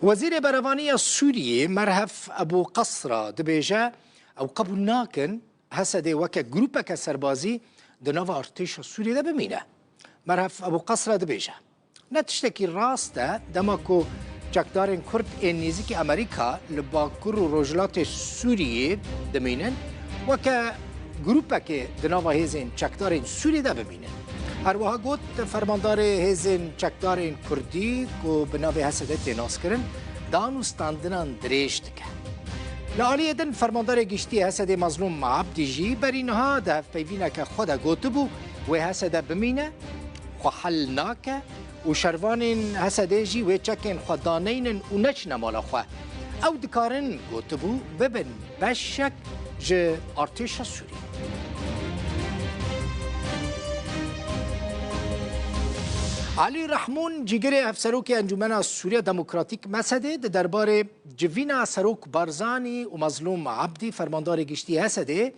Wezîrê Berevanî ya Sûriyê Merhef Ebû Qesra dibêje, ew qebûl nakin Hesedê weke grûpeke serbazî di nava artêşa Sûriyê de bimîne. Merhef Ebû Qesra dibêje, Ne tiştekî rast e dema ku çekdarên Kurd ên nêzîkî Amerîka li bakur û rojhilatê Sûriyê dimînin, weke grûpekê di nava hêzên çekdarên Sûriyê de bimîne. Her wiha got fermandarê hêzên çekdarên Kurdî ku bi navê HSD tê naskirin, dan û standinan dirêj dike. Li aliyê din fermandarê giştî HSD Mazlûm Abdî jî berî niha di hevpeyvîneke xwe de gotibû, wê HSD bimîne, xwe hel nake Û şervanên Hesedê jî wê çekên xwe daneynin û neçine mala xwe. Ew dikarin gotibû bibin beşek ji artêşa Sûriyê. Elî Rehmûn cîgirê Hevserokê Encûmena Sûriya Demokratîk Mesedê di derbarê civîna Serok Barzanî û Mezlûm Ebdî fermandarê giştî Hesedê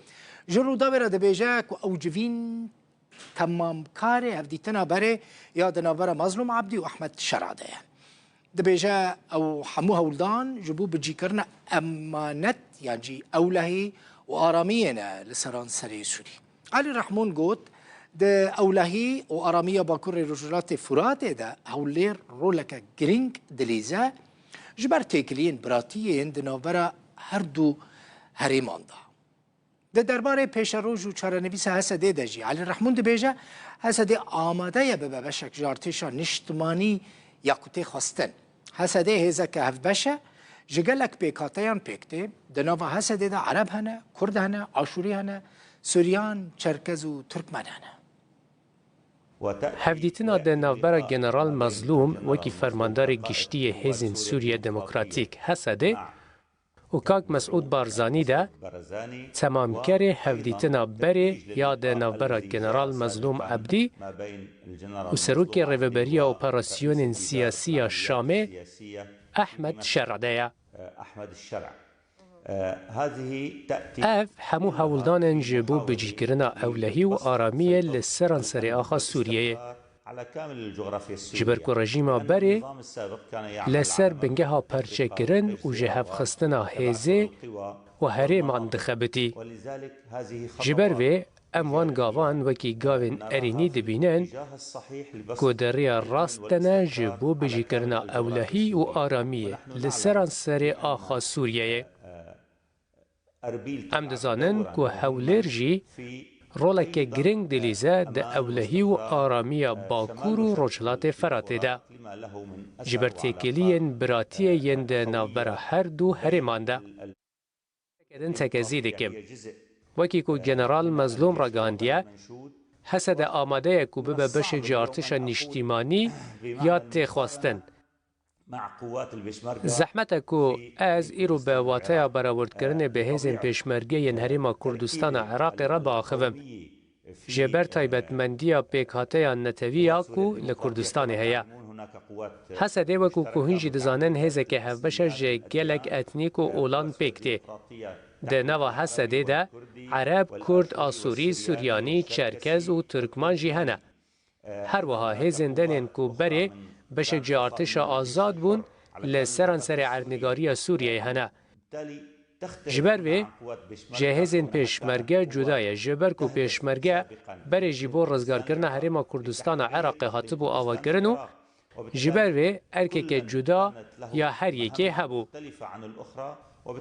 ji Rûdawê re dibêje ku ew civîn Temamkarê hevdîtina berê ya di navbera Mazlûm Ebdî û Ehmed Şera de ye. Dibêje ew hemû hewldan ji bo bicîkirina emanet yan jî ewlehî û aramiyê ne li seranserê Sûrî. Elî Rehmûn got, Di ewlehî û aramiya Bakurê Rojhilatê Furatê de Hewlêr roleke girîng dilîze ji ber têkiliyên biratiyên di navbera her du herêman de. Di derbarê pêşeroj û çarenivîsa Hesedê de jî Elî Rehmûn dibêje, Hesedê amade ye bibe beşek ji artêşa niştimanî ya ku tê xwestin. Hesedê hêzeke hevbeş e, ji gelek pêkhateyan pêk tê. Di nava Hesedê de Ereb hene, Kurd hene, Aşûrî hene, Suryan, Çerkez û Turkmen hene. Hevdîtina di navbera General Mezlûm wekî Fermandarê Giştî yê Hêzên Sûriya Demokratîk, Hesedê, û kak Mesûd Barzanî de temamkerê hevdîtina berê ya di navbera General Mezlûm Ebdî û Serokê Rêveberiya Operasyonên Siyasî ya Şamê Ehmed Şer'î de ye. Ev hemû hewldanên ji bo bicîkirina ewlehî û aramiyê li seranserê axa Sûriyeyê. Ji ber ku rejîma berê li ser bingeha perçekirin û jihevxistina hêzê û herêman dixebitî. Ji ber vê em wan gavan wekî gavên erênî dibînin ku di rêya rast de ne ji bo bijîkirina ewlehî û aramiyê li seranserê axa Sûriyeyê. Em dizanin ku Hewlêr jî roleke girîng dilîze di ewlehî û aramiya Bakur û Rojhilatê Feratê de. Ji ber têkiliyên biratiyê yên di navbera her du herêman de. Teke din teke zî dikim. Wekî ku General Mezlûm ragihandiye, Hesede amade ye ku bibe beşê cî artişa nîştîmanî ya têxwastin Zehmet e ku ez îro bi wateya berawerdkirinê bi hêzên Pêşmerge yên Herêma Kurdistana Iraqê re biaxivim. Jê ber taybetmendiya pêkhateya netewî ya ku li Kurdistanê heye. Hesedê wekû ku hûn jî dizanin hêzeke hevbeş e ji gelek etnîk û olan pêk tê. Di nava Hesedê de Ereb, Kurd, Asûrî, Suryanî, Çerkez û Turkman jî hene. Her wiha hêzên denên ku berê beşek ji artêşa azad bûn li seranserê erdnîgariya Sûriyeyê hene. Ji ber vê ji hêzên pêşmerge cuda ye, ji ber ku pêşmerge berê jî bo rizgarkirina Herêma Kurdistana Iraqê hatibû avakirin û, Ji ber vê erkeke cuda ya her yekê hebû.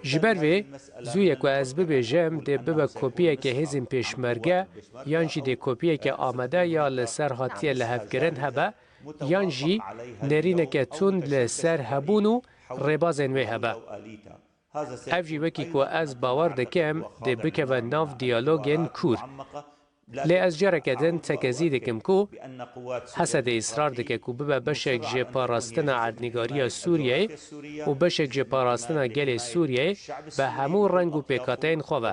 Ji ber vê zû ye ku ez bibêjim dê bibe kopiyeke hêzên pêşmerge yan jî dê kopiyeke amade ya li ser hatiye lihevkirin hebe yan jî nêrîneke tund li ser hebûn û rêbazên wê hebe. Ev jî wekî ku ez bawer dikim dê bikeve nav diyalogên kûr. Lê ez careke din tekezî dikim ku Hesedê îsrar dike ku bibe beşek ji parastina erdnîgariya Sûriyeyê û beşek ji parastina gelê Sûriyeyê bi hemû reng û pêkhateyên xwe ve.